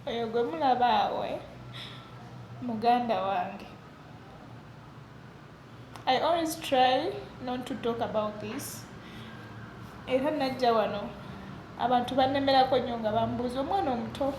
Oyo gwe mulaba awo eh? muganda wange i always try not to talk about this era najja wano abantu banemerako nnyo nga bambuuza omwana omuto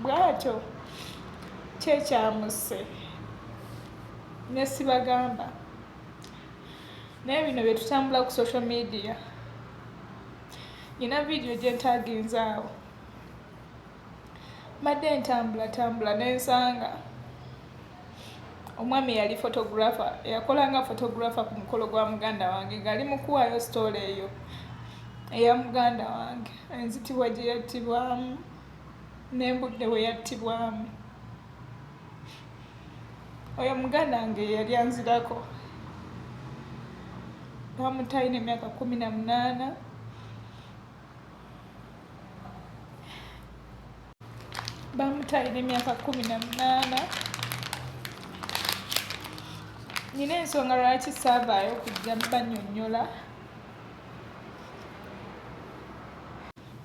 bwatyo kyekyamusse nesibagamba naye bino byetutambula ku social media nyina vidiyo gyentaaginzaawo Mbadde ntambulatambula ne nsanga omwami yali fotografa eyakolanga fotografa ku mukolo gwa muganda wange ng'ali mu kuwaayo sitoola eyo eya muganda wange enzitibwa gye yattibwamu n'embudde we yattibwamu oyo muganda wange yeyali anzirako bamutayina emyaka kumi na munaana bamutayira emyaka kumi na munaana nyina ensonga lwaki saavaayo kujja banyonyola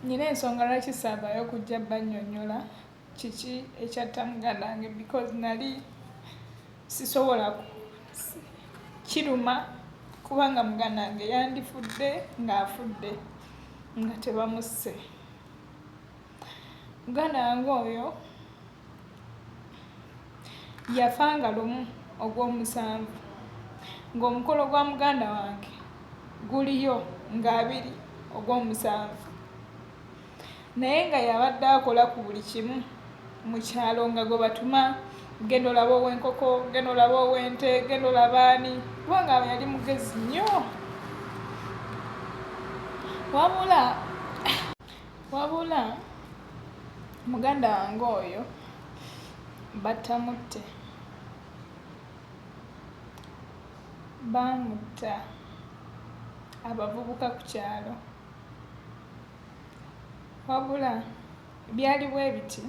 nyina ensonga lwaki saavaayo kujja banyonyola kiki ekyatta muganda wange because nali sisobola kiruma kubanga muganda wange yandifudde ng'afudde nga tebamusse muganda wange oyo yafa nga lumu ogw'omusanvu ng'omukolo gwa muganda wange guliyo ng'abiri ogw'omusanvu naye nga yabadde akola ku buli kimu mu kyalo nga gwe batuma genda olaba ow'enkoko genda olaba ow'ente genda olaba ani kubanga yali mugezi nnyo wabula wabula muganda wange oyo batamutte baamutta abavubuka ku kyalo wabula byali bwe biti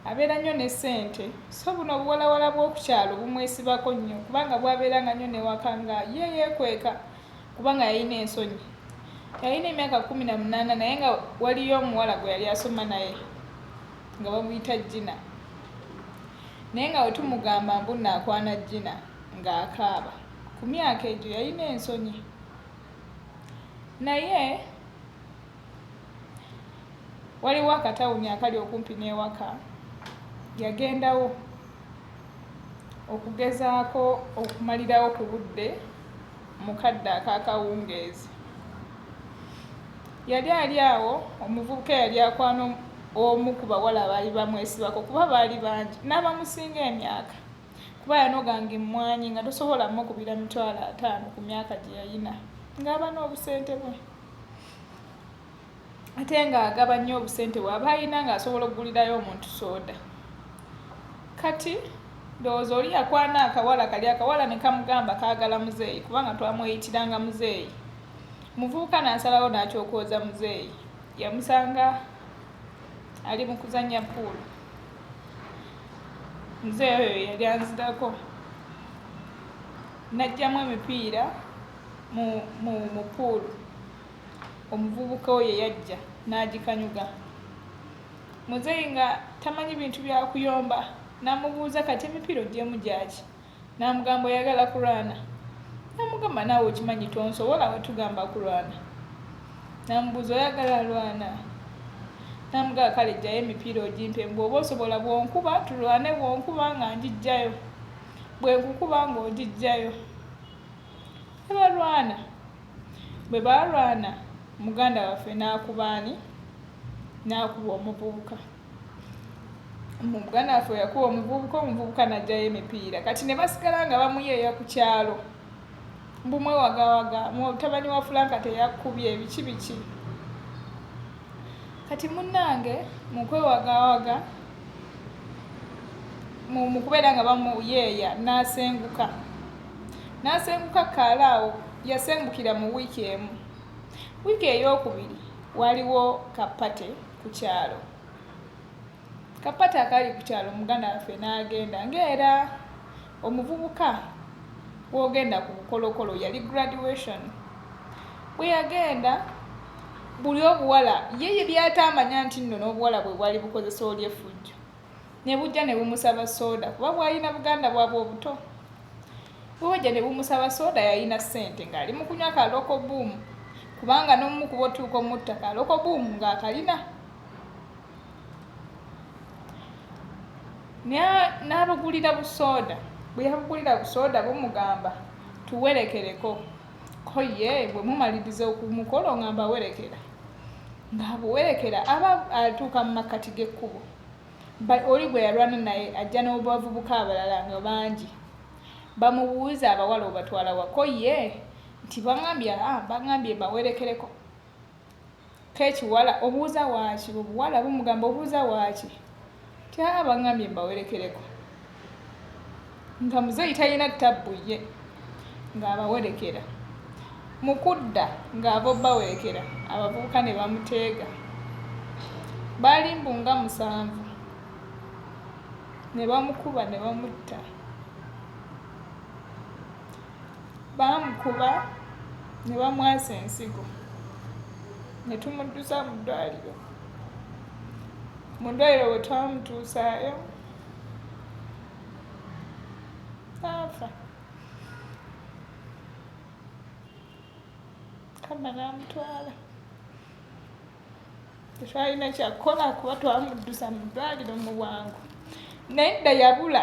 abeera nnyo ne ssente so buno obuwalawala bw'oku kyalo bumwesibako nnyo kubanga bwabeera nga nnyo newaka nga ye yeekweka kubanga yalina ensonyi yalina emyaka kumi na munaana naye nga waliyo omuwala gwe yali asoma naye nga bamuyita jina naye nga wetumugamba mbu naakwana jina ng'akaaba ku myaka egyo yalina ensonyi naye waliwo akatawuni akali okumpi n'ewaka yagendawo okugezaako okumalirawo ku budde mu kadde ak'akawungeezi yali ali awo omuvubuka eyali akwana omu ku bawala abaali bamwesibako kuba baali bangi n'abamusinga emyaka kuba yanoganga emmwanyi nga tosobola mukubira mitwalo ataano ku myaka gye yalina ng'aba n'obusente bwe ate ng'agaba nnyo obusente bw'aba alina ng'asobola okugulirayo omuntu sooda kati ndowooza oli yakwana akawala kali akawala ne kamugamba kaagala muzeeyi kubanga twamweyitiranga muzeeyi muvubuka n'asalawo n'akyokooza muzeeyi yamusanga ali mu kuzannya puulu nze oyo yali anzigako najjamu emipiira mu mu mu pool omuvubuka oyo yajja n'agikanyuga muzeeyi nga tamanyi bintu bya kuyomba namubuuza kati emipiira oggyeemu gyaki Namugamba oyagala kulwana namugamba naawe okimanyi tonsobola wetugamba kulwana namubuuza oyagala alwana namugamba kale jjayo emipiira ogimpe bwoba osobola bwonkuba tulwane bwonkuba nga njijjayo bwenkukuba nga ogijjayo nebalwana bwe baalwana muganda waffe n'akubaani n'akuba omuvubuka mu buganda waffe yakuwa omuvubuka omuvubuka najjayo emipiira kati ne basigala nga bamuyeeya ku kyalo mbu mwewagawaga mutabani wa fulanka teyakubye ebiki biki kati munnange mukwewagawaga mukubeera nga bamuyeeya n'asenguka n'asenguka kaala awo yasengukira mu wiiki emu wiiki eyokubiri waliwo kapate ku kyalo kapata akali ku kyalo muganda waffe n'agenda ng'era omuvubuka w'ogenda ku bukolokolo yali graduation bwe yagenda buli obuwala ye ye byataamanya nti nno n'obuwala bwe bwali bukozesa oli efujjo ne bujja ne bumusaba sooda kuba bwalina buganda bwabwe obuto Bubajja ne bumusaba sooda yalina ssente ng'ali mu kunywa ka Local Boom kubanga n'omu ku botuuka omutta ka Local Boom ng'akalina n'abagulira busooda bwe yabagulira busooda bumugamba tuwerekereko ko ye bwe mumaliriza okumukolo nga mbawerekera ng'abuwerekera aba atuuka mu makkati g'ekkubo oli gwe yalwana naye ajja n'obavubuka abalala nga bangi Bamubuuza abawala obatwala wa ko ye nti bangambye aa ah, bangambye bawerekereko kekiwala obuuza waaki obuwala bumugamba obuuza waaki ti aa ah, bangambye bawerekereko nga muzeeyi talina tabbu ye ng'abawerekera mu kudda ng'abobawerekera abavubuka ne bamuteega baali mbu nga musanvu ne bamukuba ne bamutta baamukuba ne bamwasa ensigo ne tumuddusa mu ddwaliro mu ddwaliro bwe twamutuusaayo n'afa kama n'amutwala tetwalina kyakukola kuba twamuddusa mu ddwaliro mu bwangu naye dda yabula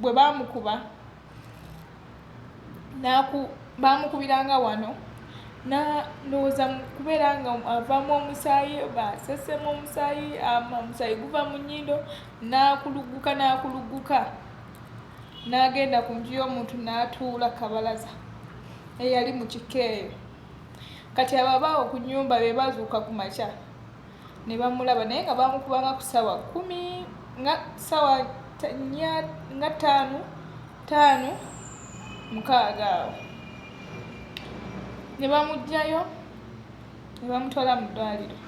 bwe bamukuba bamukubiranga wano nalowooza kubeera nga avamu omusaayi basesemu omusaayi omusaayi guva mu nyindo nakulugguka nakulugguka nagenda ku nju y'omuntu natuula kabalaza eyali mu kikeeyo Kati abo abaawo ku nnyumba be baazuukuka ku makya ne bamulaba naye nga baamukubanga ku ssaawa kkumi nga ssaawa nnya nga ttaano ttaano mukaaga awo ne bamuggyayo ne bamutwala mu ddwaliro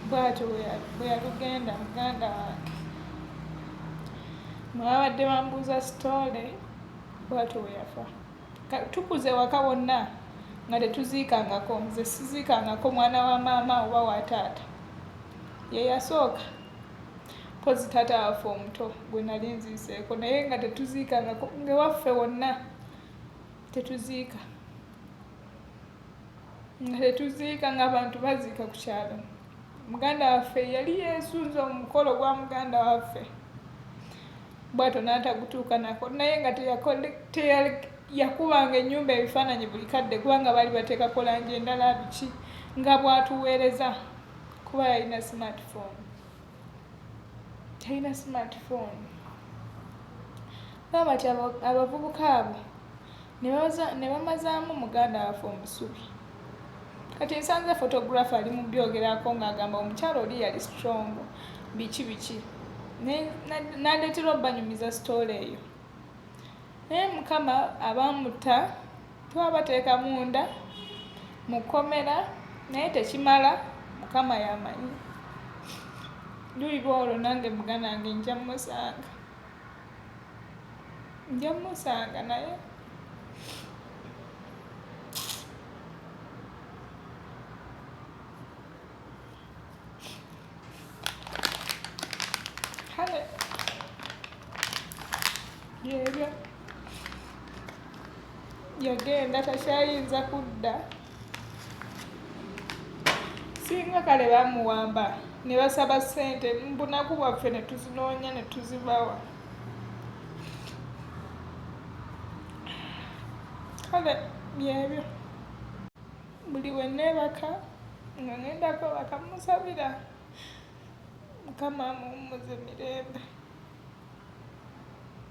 bwatyo bwe yalugenda muganda wange mwabadde bambuuza sitoole bwatyo bwe yafa Tukuze ewaka wonna nga tetuziikangako. Nze siziikangako mwana wa maama oba wa taata. Ye yasooka mpozi taata waffe omuto gwe nali nziiseeko naye nga tetuziikangako ngewaffe wonna tetuziika nga tetuziika ng'abantu baziika ku kyalo. muganda waffe yali yesunze omukolo ogwa muganda waffe bwato n'atagutuuka nako naye nga yakubanga ennyumba ebifaananyi buli kadde kubanga baali bateekako langi endala biki nga bwatuweereza kuba yalina smartphone talina smartphone baba ti abavubuka abo ne bamazaamu muganda waffe omusubi kati nsanze photographer ali mu byogerako ng'agamba omukyala oli yali strong biki biki nandeetera obanyumiza sitoola eyo naye mukama abamutta twabateeka munda mu kkomera naye tekimala mukama yamanyi luliba olwo nange muganange nja musanga nja musanga naye kale yebyo yagenda takyayinza kudda singa kale bamuwamba ne basaba ssente mbunaku bwaffe ne tuzinoonya ne tuzibawa kale byebyo buli we neebaka nga ngendako bakamusabira mukama amuwummuze mirembe